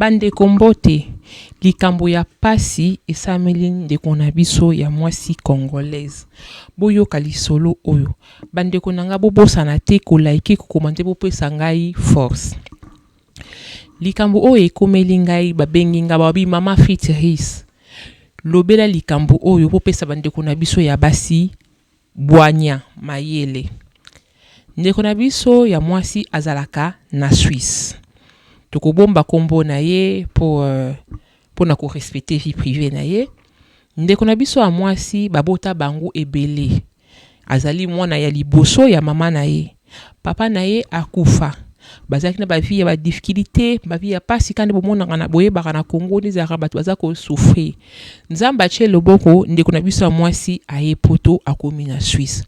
Bandeko mbote, likambo ya pasi esalemeli ndeko na biso ya mwasi congolaise. Boyoka lisolo oyo. Bandeko na nga bobosana te ko liker, ko commenter bopesa ngai force. Likambo oyo ekomeli ngai babengi nga ba bi mama Fitzris lobela likambo oyo bopesa bandeko na biso ya basi Bwanya, mayele. Ndeko na biso ya mwasi azalaka na Suisse. Tokobomba kombo na ye po pona ko respecter vie privee na ye. Ndeko na biso ya mwasi babota bango ebele. Azali mwana ya liboso ya mama na ye. Papa na ye akufa bazalaki na ba vie ya ba difficulite ba vie ya pasi kaka nde bomonaka na boyebaka na Congo nde ezalaka batu baza ko souffrir nzambe atie loboko ndeko na biso ya mwasi aye poto akomi na Suisse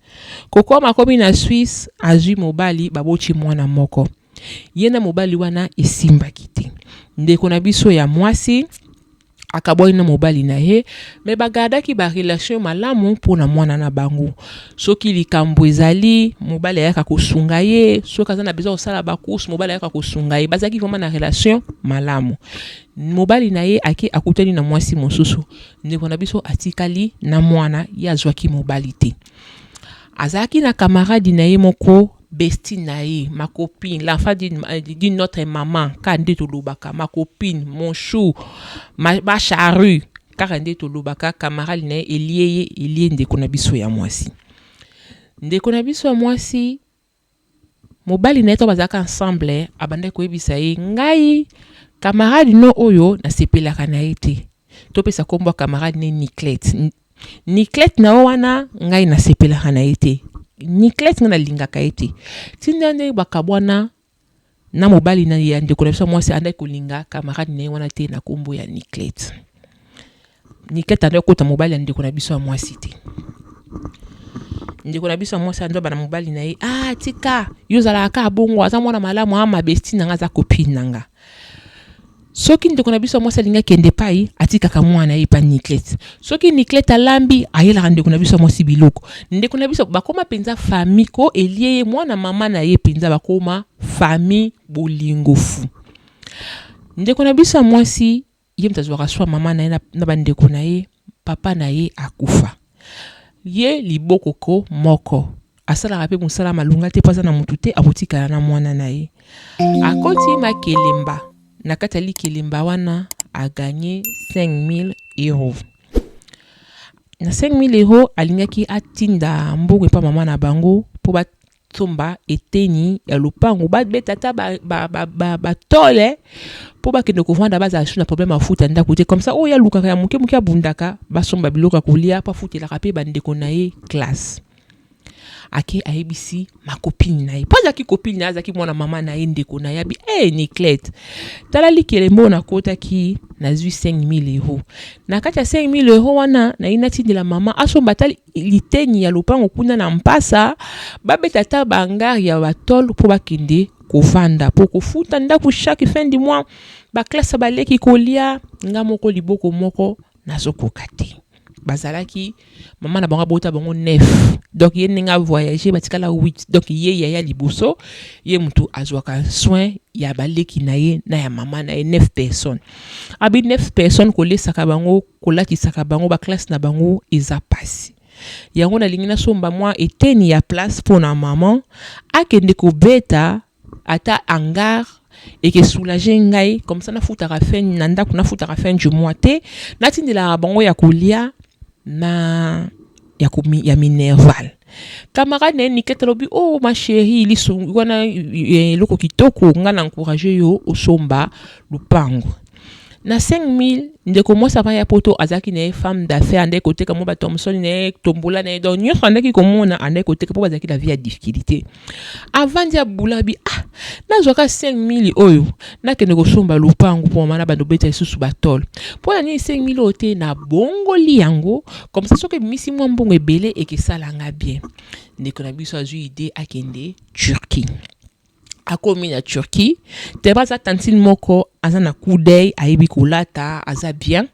kokoma akomi na Suisse azui mobali baboti mwana moko ye na mobali wana esimbaki te ndeko na biso ya mwasi Akabwani na mobali na ye, mais ba gardaki ba relations malamu mpo na mwana na bango. Soki likambo ezali, mobali ayaka kosunga ye, soki aza na besoin ya kosala ba courses, mobali ayaka kosunga ye. Bazalaki vraiment na relation malamu. Mobali na ye ake akutani na mwasi mosusu, ndeko na biso atikali na mwana, ye azwaki mobali te. Azalaki na camarade na ye moko, bestie na ye, ma copine, l'enfant d'une notre maman, kaka nde tolobaka ma copine, mon chou, ma, ma charrue, kaka nde tolobaka camarade na ye elie ye, elie ndeko na biso ya mwasi. Ndeko na biso ya mwasi mobali na ye to bazalaka ensemble abandaki koyebisa ye ngai camarade no oyo nasepelaka na ye te topesa nkombo ya camarade ne niclete Niclette na yo wana ngai nasepelaka na ye te. Niclette ngai nalingaka ye te. Tinda nde bakabwana na mobali na ya ndeko na biso mwasi andaki kolinga camarade na ye wana te na kombo ya Niclette. Niclette andaki kokota mobali ya ndeko na biso ya mwasi te. Ndeko na biso ya mwasi andaki bana mobali na ye, ah tika, yo ozalaka kaka bongo, aza mwana malamu, ah ma bestie na nga aza copine na nga. Soki ndeko na biso ya mwasi alingi akende epai, atikaka mwana na ye epai Niclette. Soki Niclette alambi, ayelaka ndeko na biso ya mwasi biloko. Ndeko na biso bakoma mpenza famille ko elie ye mwana mama na ye mpenza bakoma famille bolingo fou. Ndeko na biso ya mwasi ye moto azwaka soin mama na ye na ba ndeko na ye papa na ye akufa. Ye liboko ko moko asalaka pe musala malonga te po aza na mutu te akotikala na muana na ye akoti makelemba na kati ya likelemba wana a gagne 5000 euros na 5000 euros alingaki atinda mbongo epa mama na bango po ba Somba eteni ya lopango ba beta ata ba ba ba ba, ba tole po bakende kovanda bazala su na problème ya futa ndako te comme ça oyo alukaka ya moke moke abundaka basomba biloko ya kolia po afutelaka pe bandeko na ye classe ake ayebisi makopini na ye po azalaki kopini na ye azalaki mwana mama na ye ndeko na ye abi e hey, niclete tala likelembo oyo nakotaki nazwi 5000 euro na kati ya 5000 euro wana nayi natindela mama asomba tali liteni ya lopango kuna na mpasa babeta ata baangare ya batole mpo bakende kovanda mpo kofuta ndako chaque fin du mois baklasa baleki kolia nga moko liboko moko nazokoka te bazalaki mama na bango abota bango nef donc ye ndenge avoyage batikala 8 donc ye yaya liboso ye motu azwaka soin ya baleki na ye na ya mama na ye nef personne abi nef personne kolesaka bango kolakisaka bango ba classe na bango eza pasi yango nalingi nasomba mwa eteni ya place mpo na maman akende kobeta ata hangar eke soulager ngai comme ça nafutaka fin na ndako nafutaka fin du mois te natindelaka bango ya kolia na ya, ko, ya minerval camarade na ye nikete alobi o oh, ma chérie liso wana eh, eloko kitoko ngai na encourage yo osomba lupangu na 5000 ndeko mwasi avant ya poto azalaki na ye femme d'affaires andaki koteka mwa batomsoni na ye tombola na ye donc nyonso andaki komona andaki koteka mpo bazalaki na vie ya difficulté avandi abulabi ah nazwa ka 5000 oyo nakende kosomba lopango mpo mama na bando beta lisusu batole mpo na nini 5000 oyo te na bongoli yango komsa soki ebimisi mwa mbongo ebele ekesala nga bien ndeko na biso azwi ide akende turquie akomi na turquie teba aza tantine moko aza na coup d'oeil ayebi kolata aza bien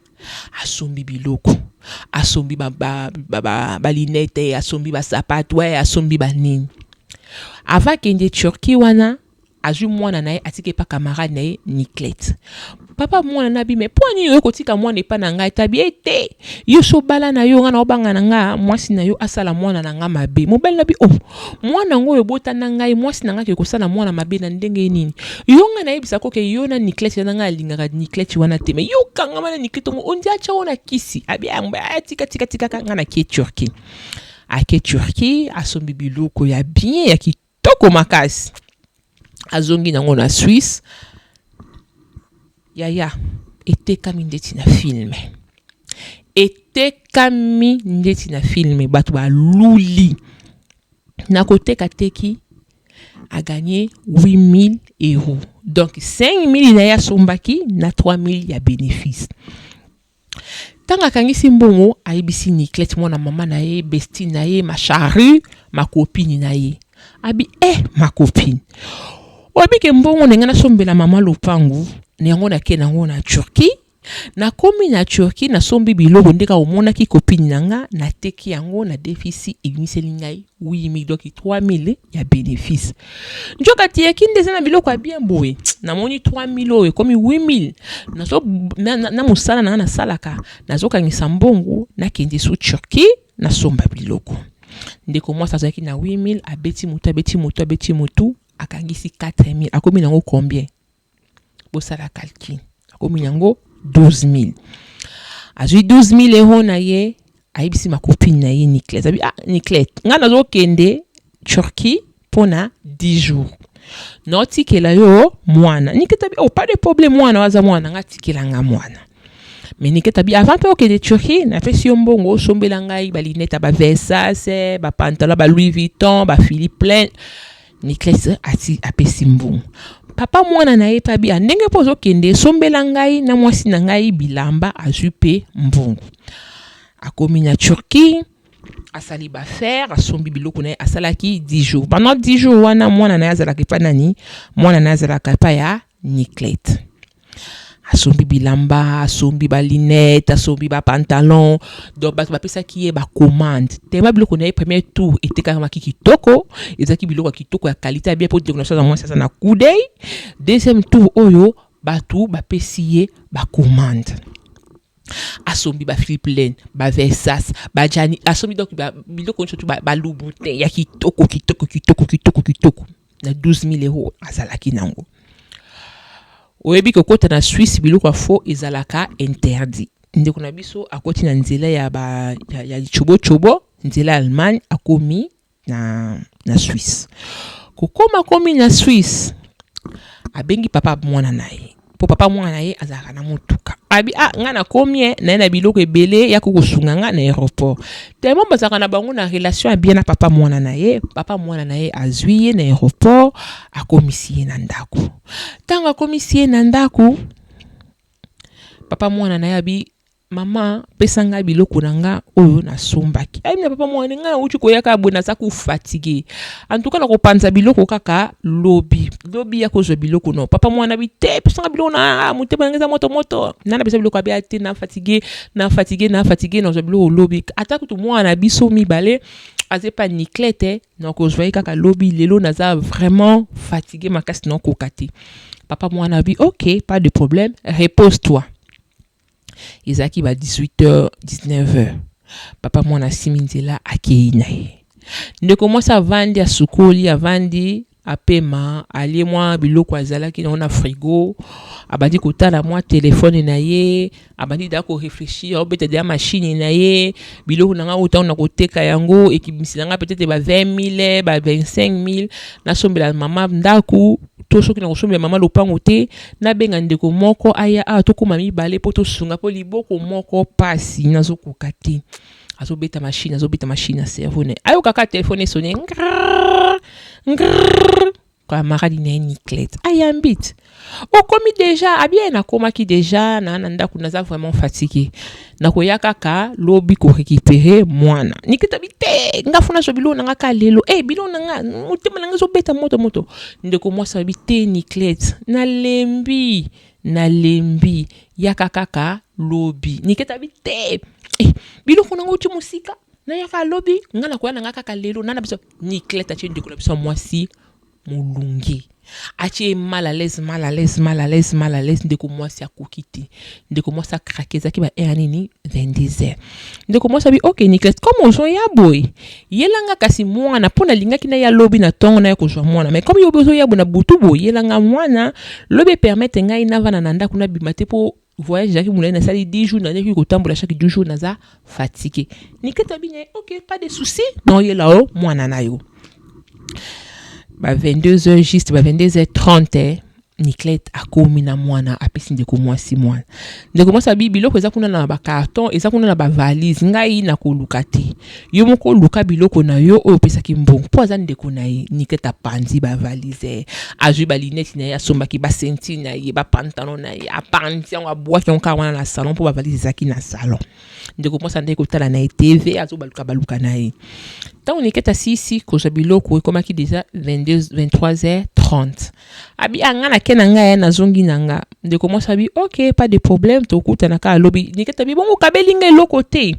asombi biloko asombi ba, ba, ba, ba, ba linete asombi basapatu eh, asombi banini ava kende turquie wana azwi mwana na ye atiki epa camarade na ye niclete papa mwana na bi me mpo nini oyo kotika mwana epa na ngai tabi ye te yo so obala na yo ngai na obanga na ngai mwasi na yo asala mwana na ngai mabe mobali na bi oh Mwana yango oyo obota na ngai, mwasi na ngai akoki kosala mwana mabe na ndenge nini? Yo ngai nayebisa ko ke yo na Niclette eza na ngai alingaka Niclette wana te mais yo okangama na Niclette yango ondi atia yo na kisi abi ah, ah, tika tika tika ka ngai nakie Turquie ake Turquie asombi biloko ya bien ya kitoko makasi azongi nango na Suisse yaya etekami ndeti na film etekami ndeti na film bato baluli na koteka teki a gagné 8000 euros donc 5000 na ye asombaki na 3000 ya bénéfice Tango akangisi mbongo, ayebisi Niclette mwana mama na ye, bestie na ye, ma charrue, ma copine na ye. Abi eh ma copine, oyebi ke mbongo na ngai nasombela mama lopangu na yango nake na yango na Turquie, nakomi na Turquie nasombi biloko nde kaka omonaki copine na ngai nateki yango na defisi ebimiseli ngai Oui, mais doki 3000 ya bénéfice. Njoka tie kinde eza na biloko ya bien boye. Na moni 3000 oyo ekomi 8000. Na so na, na, na musala na na salaka, na zo kangisa mbongo, na kende sous Turquie, na somba biloko. Ndeko mwasi azalaki na 8000, abeti mutu, abeti mutu, abeti mutu, akangisi 4000. Akomi nango combien? bosala calcul akomi nango 12000 azwi 12000 euro na ye ayebisi makopine na ye niclete abi ah niclete ngai nazokende turquie mpo na 10 jours naotikela yo mwana niclete abi oh pas de problème mwana waza mwana ngai atikela ngai mwana mais niclete abi avant mpe okende turquie napesi yo mbongo osombela ngai balinete ya bavesase bapantalon ba louis vuitton ba philippe plein Niclès ati apesi mbongo. Papa mwana na ye pe abi, ah, ndenge pe ozokende, sombela ngai na mwasi na ngai bilamba, azwi pe mbongo. Akomi na Turquie, asali ba affaires, asombi biloko na ye, asalaki 10 jours. Pendant 10 jours wana mwana na ye azalaka epai nani? Mwana na ye azalaka epai ya Niclette. asombi bilamba asombi balinete asombi bapantalon donc bato bapesaki ye bacommande tema biloko na ye premier tour etekakamaki kitoko ezalaki biloko ya kitoko ya kalite ya bien mpo ndeko na soza mwasi aza na kudei deuxième tour oyo bato bapesi ye bacommande asombi ba philiplane ba versas ba jani asombi donc biloko nyonso tu balubute ya kitoko kitoko kitoko kitoko kitoko na 12000 euro azalaki nango oyebi kokota na Suisse biloko ya faux ezalaka interdit ndeko na biso akoti na nzela ya ba ya, ya chobo chobo nzela ya Allemagne akomi na na Suisse kokoma komi na Suisse abengi papa mwana na ye mpo papa mwana na ye azalaka na motuka abi a ah, ngai nakomi ye naye na biloko ebele ya kokosunga ngai na aéroport tellement bazalaka na bango na relation ya bien na papa mwana na ye papa mwana na ye azwi ye na aéroport akomisi ye na ndako ntango akomisi ye na ndako papa mwana na ye abi Maman pesa nga biloko na nga oyo na sombaki. Ayi na papa mwani nga na uti koya kaka boye naza ku fatigue. En tout cas na ko panza biloko kaka lobi. Lobi ya kozwa biloko no. Papa mwani abi te pesa nga biloko na nga motema na nga eza moto moto. Na na pesa biloko abi a te na fatigue na fatigue na fatigue na zwa biloko lobi. Ata kutu mwana na biso mibale aza epa Niclette na kozwa ye kaka lobi lelo naza vraiment fatigue makasi na koka te. Papa mwani abi ok pas de problème repose toi. ezalaki ba 18 heures 19 heures papa mwana asimi nzela akei na ye ndeko mwasi avandi asukoli avandi apema alie mwa biloko azalaki nango na frigo abandi kotala mwa telefone na ye abandi da koreflechir aobeta deya mashini na ye biloko na ngai oyo ntango na koteka yango ekibimisela ngai petete ba 20 mille ba 25 mille nasombela mama ndako to soki na kosombela mama lopango te Nabenga ndeko moko aya awa tokoma mibale mpo tosunga mpo liboko moko pasi nazokoka te azobeta machine azobeta machine ya cerveau na ayokaka telefone esone camarade na ye niclete ayambi te okomi deja abi ye nakomaki deja na na ndako naza vraiment fatigue nakoya kaka lobi ko récupérer mwana nikita bi te nga funa zo bilona nga ka lelo eh bilona nga motema na nga zo beta moto moto ndeko mwasi abi te Niclette nalembi nalembi yaka kaka lobi nikita bi te eh biloko na nga uti mosika nayaka lobi nga nakoya na nga kaka lelo nana biso Niclette atie ndeko na biso mwasi molunge atie ye mal à l'aise mal à l'aise mal à l'aise mal à l'aise ndeko mwasi akoki te ndeko mwasi akrake ezalaki ba heure nini 22 heures ndeko mwasi abi ok niclas comme ozoya boye yelanga kasi mwana mpo nalingaki na ya lobi na ntongo naya kozwa mwana mai comme yo ozoya boye na butu boye yelanga mwana lobi epermete ngai navana na ndako nabima te mpo voyage ezalaki molai nasali 10 jours nazalaki kotambola chaque 12 jours naza fatigue nikete abi na ye ok pas de souci naoyela o mwana na yo ba 22 heures juste ba 22 heures 30 eh, Niclette akomi na mwana apesi ndeko mwasi mwana ndeko mwasi abi biloko eza kuna na bacarton eza kuna na bavalise ngai nakoluka te Yo moko luka biloko na yo oyo opesaki mbongo po aza ndeko na ye. Niket apanzi ba valises, azui ba lunettes na ye, asombaki ba ceintures na ye, ba pantalons na ye, apanzi yango, abuaki yango kaka wana na salon po ba valises ezalaki na salon. Ndeko mwasi andaki kotala na ye TV, azo baluka baluka na ye. Tango Niket asilisi kozua biloko, ekomaki dejà 22, 23 heures 30. Abi ah nga nake na nga eh, nazongi na nga. Ndeko mwasi abi ok, pas de problème, tokutana kaka lobi. Niket abi bongo okabeli nga eloko te?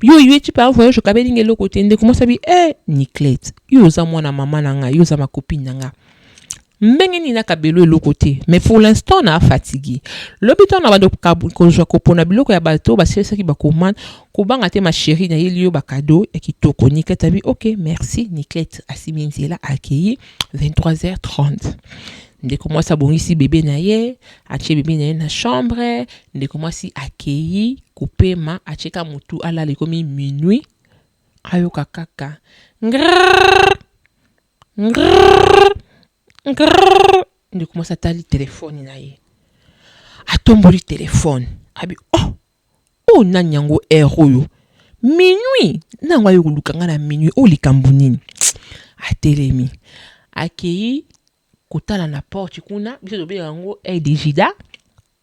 yo oye ti par voyage okabelinga eloko te ndeko mwasi abi e niclete yo oza mwana mama na ngai yo oza makopine na ngai ndenge nini nakabelo eloko te mais pour l'instant na fatigue lobi ntango na bando kozwa kopona biloko ya bato basilisaki bakomande kobanga te ma chérie nayeli yo bakado ya kitoko niclete abi ok merci niclete asimi nzela akei 23h30 ndeko mwasi abongisi bebe na ye atie bebe na ye na chambre ndeko mwasi akei kopema atie ka mutu alala ekomi minuit ayoka kaka ngrrrr ngrrrr ngrrrr ndeko mwasi atali telefone na ye atomboli telefone abi oh oyo nani yango heure oyo minuit na yango aye koluka ngai na minuit oyo likambo nini atelemi akei kotala na porte kuna biso tobengaka yango aide jida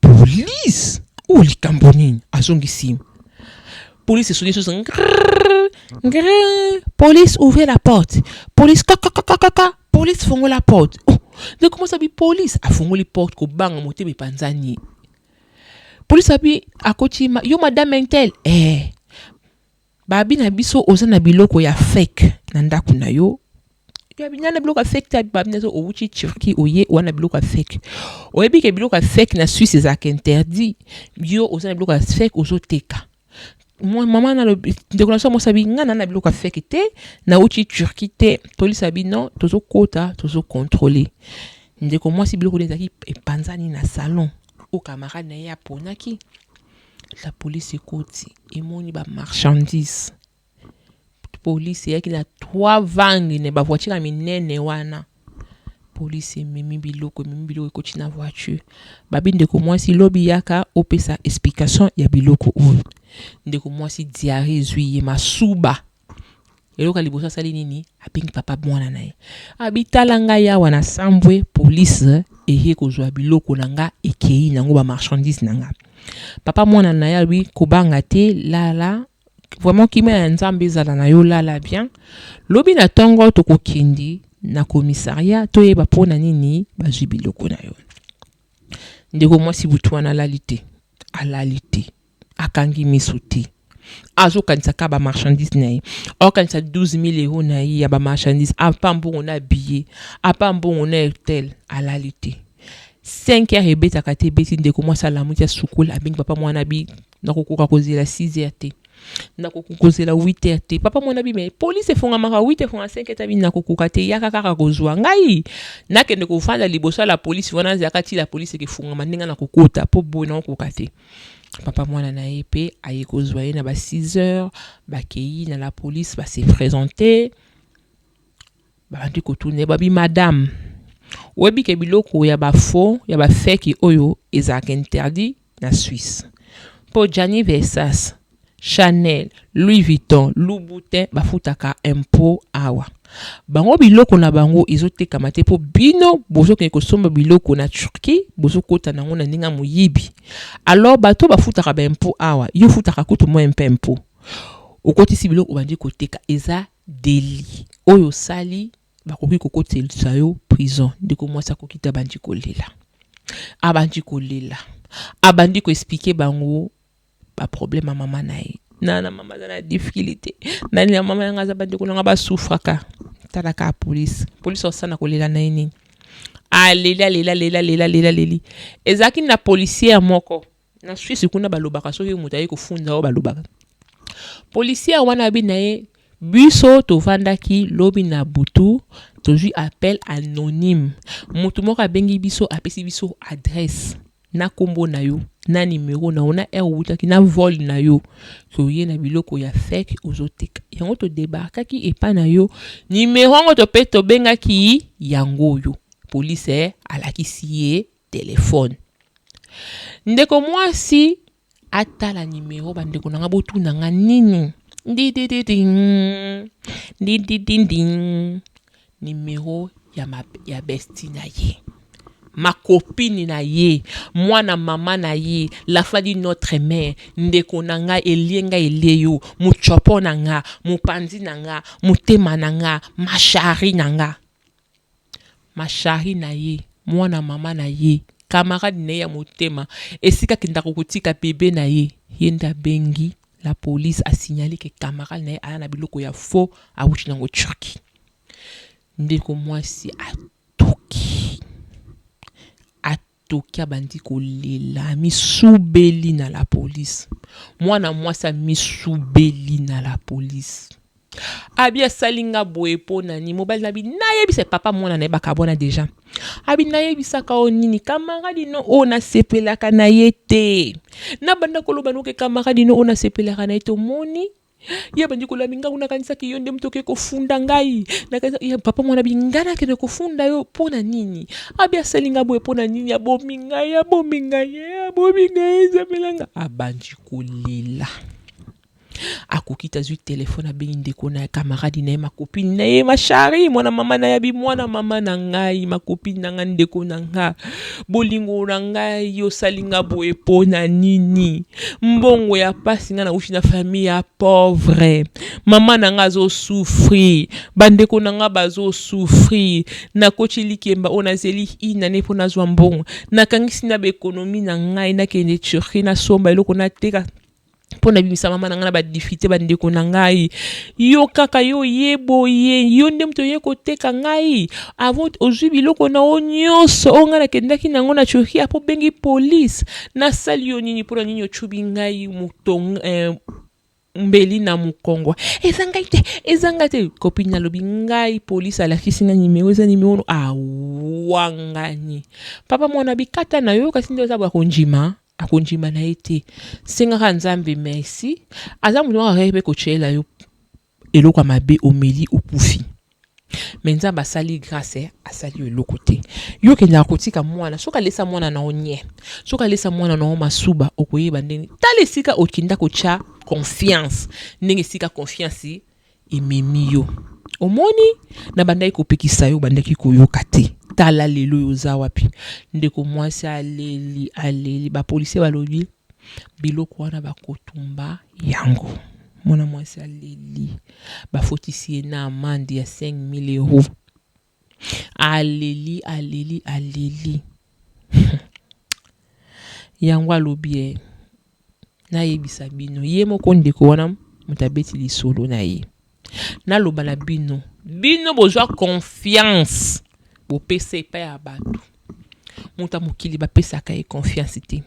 police oyo likambo nini azongisi police esoni esosa ngre police ouvre la porte police kakakakaka police fongola porte oh, nde komosa bi police afongoli porte kobanga motema epanzani police abi akoti yo madame intel eh Babi na biso oza na biloko ya fake na ndaku na yo na biloko ya fake ta babi na owuti Turquie oye oza na biloko ya fake oyebi ke biloko ya fake na Suisse ezalaka interdit yo oza na biloko ya fake ozoteka mama nalobi ndeko na biso mwasi abi ngai na na biloko ya fake te nauti Turquie te tolisa bino tozokota tozokontrole ndeko mwasi biloko nde ezalaki epanzani na salon oyo camarade na ye aponaki La police ekoti emoni ba marchandises. Police eyaki na trois vangi ne ba voiture ya minene wana. Police ememi biloko, ememi biloko ekoti na voiture. Babi ndeko mwasi lobi yaka opesa explication ya biloko oyo. Ndeko mwasi diarrhee ezwi ye masuba Eloko ya liboso asali nini? Abengi papa mwana na ye. Abi tala ngai awa na sambwe police eye kozwa biloko na nga ekeyi nango ba marchandise na nga. Papa mwana na ye alobi kobanga te lala vraiment kimia ya Nzambe ezala na yo lala bien. Lobi na tongo tokokende na commissariat toyeba mpo na nini bazwi biloko na yo. Ndeko mwasi butu wana alali te, alali te. akangi misu te azo kanisa ka ba marchandise na ye azo kanisa 12000 euros na ye ya ba marchandise apa mbongo na billet apa mbongo na hotel alali te 5 heures ebetaka te ebeti ndeko mwasi alamuki asukoli abengi papa mwana bi nakokoka kozela 6 heures te nakokoka kozela 8 heures te papa mwana bi me police efongamaka 8 efonga 5 heures tabi nakokoka te yaka kaka kozwa ngai nakende kofanda liboso ya la police wana azalaka ti la police ekefungama ndenge nakokota po boye nakokoka te Papa mwana na ye pe aye kozwa ye na ba 6 heures, bakeyi na la police ba se presenter, babandi kotuna ye babi madame oyebi ke biloko ya ba faux ya ba fake oyo ezalaka interdit na Suisse? Po Gianni Versace Chanel, Louis Vuitton, Louboutin bafutaka impot awa? Bango biloko na bango ezo tekama te po bino bozo kende kosomba biloko na Turquie bozo kota nango na ndenge ya moyibi. Alors bato bafutaka ba impot awa yo ofutaka kutu moin pe impot. Okotisi biloko obandi koteka eza delit oyo osali bakoki kokotelisa yo prison. Ndeko mwasi akoki te abandi kolela abandi kolela abandi ko explique bango. ba problème ya mama na ye na na mama aza na difficulté na na mama yanga aza bandeko na nga basufraka tala kaka polise polise osana kolela na ye nini aleli alela lela lela lela leli ezalaki na policière moko na swisse kuna balobaka soki moto aye kofunza oyo balobaka policière wana abi na ye biso tovandaki lobi na butu tozwi appel anonyme motu moko abengi biso apesi biso adresse na kombo na yo na numero na yo na heure outaki na vol na yo toye na biloko ya fake ozoteka yango todebarkaki epa na yo numero yango to mpe tobengaki yango oyo polise alakisi ye telefone ndeko mwasi Atala numero ba ndeko na nga botuna nga nini ndidididing ndidididing numero ya ma ya besti na ye ma copine na ye mwana mama na ye la foi di notre mère ndeko na nga elie nga elie yo mutshopo na nga mopanzi na nga motema na nga ma chari na nga. Ma Chari na ye, mwana mama na ye, camarade na ye ya motema, esika akendaka kotika bebe na ye, ye nde abengi la police a signaler que camarade na ye aya na biloko ya faux awuti na ngo Turquie. Ndeko mwasi atuki, atuki. Toki abandi kolela amisubeli na la police mwana mwasi amisubeli na la police abi asali nga boye po nani mobali nabi nayebisa ye papa mwana naye bakabwana deja abi nayebisaka yo nini kamaradi no oyo nasepelaka na ye te nabanda koloba noke kamaradi no oyo nasepelaka na ye te omoni ya bandeko la mingangu nakanisaki yo nde moto oke kofunda ngai ya papa mwana bingana akende kofunda yo mpo na nini abi asali ngai boye mpo na nini abomi ngai abomi ngai eh, abomi ngai ezamela ngai abandi kolela akoki te azwi telefone abengi ndeko na ye kamaradi na ye makopini na ye mashari mwana mama na yabi mwana mama na ngai makopini na ngai ndeko na nga Bolingo na ngai osali nga boye pona nini mbongo ya pasi nga nawuti na famille ya pauvre maman na nga azo souffrir ba ndeko na nga bazo souffrir nakoti likemba oyo nazeli une annee po nazua mbongo nakangisi naba economie na ngai nakende Turquie nasomba eloko nateka mpo nabimisa mama na ngai na badifite bandeko na ngai yo kaka yo oye boye yo nde moto oye koteka ngai avant ozwi biloko na yo nyonso oyo ngai nakendaki na yango na turki apo obengi polise nasali yo nini mpo na nini ocubi ngai moto eh, mbeli na mokongo eza ngai te eza ngai te kopini nalobi ngai polisi alakisi ngai nimero eza nimero awangani papa mwana bikata na yo kasi nde oza bwa kondima akondima na ye te sengaka nzambe merci aza moto moko akaki mpe kotyela yo eloko ya mabe omeli okufi me nzambe asali grace asali yo eloko te yo okendaka kotika mwana soki alesa mwana na yo nye soki alesa mwana na yo masuba okoyeba ndenge tala esika okinda kotya confiance ndenge esika confiance Ememi yo. Omoni? Nabandaki kopekisa yo, obandaki koyoka te. Tala lelo oyo oza wapi. Ndeko mwasi aleli, aleli. Ba policiers balobi, Biloko wana bakotumba yango. Mwana mwasi aleli. Bafotisi ye na amande ya 5000 euros. Aleli aleli aleli hum yango alobi eh nayebisa bino ye moko ndeko wana moto abeti lisolo na ye naloba na bino bino bozwa confiance bopesa epai ya bato moto ya mokili bapesaka ye confiance te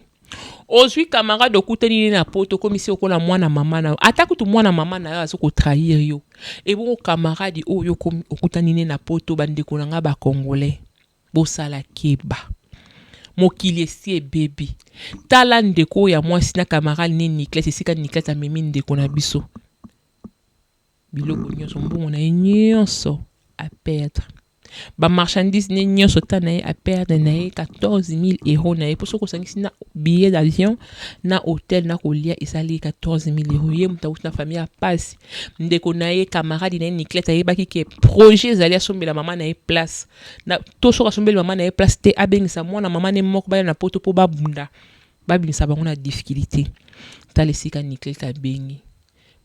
Ozui camarade okutani ne na poto okomisi okola mwana mama na yo ata kutu mwana mama na yo azo ko trahir yo ebongo camarade oyo okomi okutani ne na poto ba ndeko na nga ba congolais bosala keba mokili esi ebebi tala ndeko oyo ya mwasi na camarade ne Niclette esika Niclette amemi ndeko na biso biloko nionso mbongo na ye nionso a perdre ba marchandises ne nionso ta na ye a perdre na ye 14000 euros na ye mpo soki osangisi na billet d'avion na hotel na kolia esali ye 14000 euros ye moto awuti na famille ya pasi ndeko na ye camarade na ye niclete ayebaki ke projet ezali asombela mama na ye place na to soki asombeli mama na ye place te abengisa mwana mama ne moko baya na poto mpo babunda babimisa bango na difficulté tala esika niclete abengi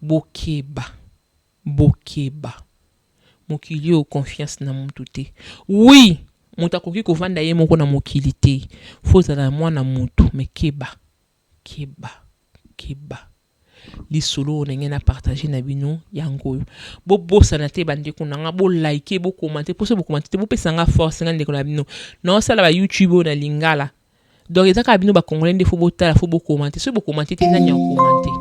Bokeba bokeba mokili oyo confiance na mutu te oui mutu akoki kovanda ye moko na mokili te faut ozala mwana mutu mais keba keba keba lisolo oyo nalingi na partage na bino yango oyo bobosana te ba ndeko na nga bo like bo commente po soki bo commente te bopesa nga force nga ndeko na bino naosala ba youtube oyo na lingala Donc eza kaka bino ba congolais nde faut botala faut bo commenter soki bo commenter te nani ako commenter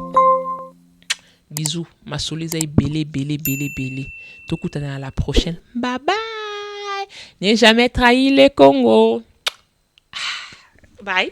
bisous masolo eza ebele ebele ebele ebele tokutana na la prochaine bye bye ne jamais trahi le congo ah, bye